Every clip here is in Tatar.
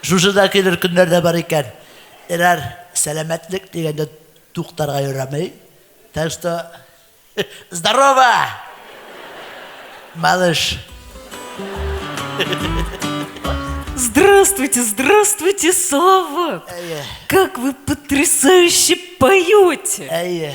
Шушы да килер көннәр дә бар икән. Эрар сәламәтлек дигәндә туктарга ярамый. Так что здорово! Малыш. Здравствуйте, здравствуйте, Слава! Как вы потрясающе поете! Әйе.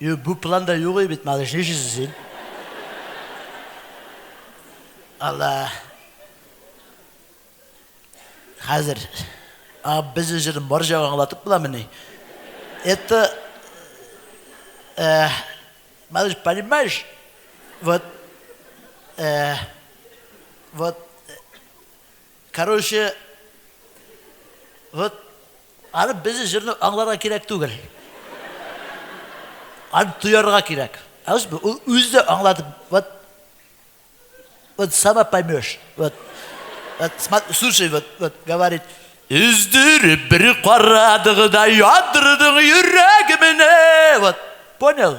Юк, бу планда юк бит, малыш, нишлисең син? Алла. Хәзер. А, без үзен бар җагы аңлатып буламыни? Это... Э, малыш, понимаешь? Вот... Э, вот... Короче, вот аны безнең җырны аңларга кирәк түгел. Аны тоярга кирәк. Ә үз ул үзе дә аңлады. Вот вот сама поймешь. Вот. Вот слушай, вот, вот говорит. Үздереп бер карадыгыда ядырдың йөрәгемне. Вот. Понял?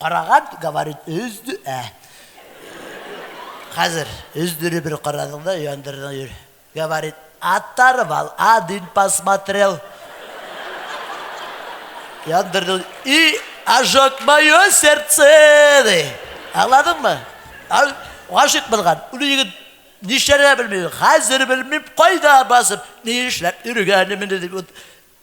Караган, говорит, өзде, ә. Хәзер өздере бер карадың да, яндырдың йөр. Говорит, оторвал, один посмотрел. Яндырдың, и ожог мое сердце, ди. Аңладыңмы? Гашык булган, үле егет нишләргә белмим, хәзер белмим, кайда басып, ни эшләп йөргәнемне дип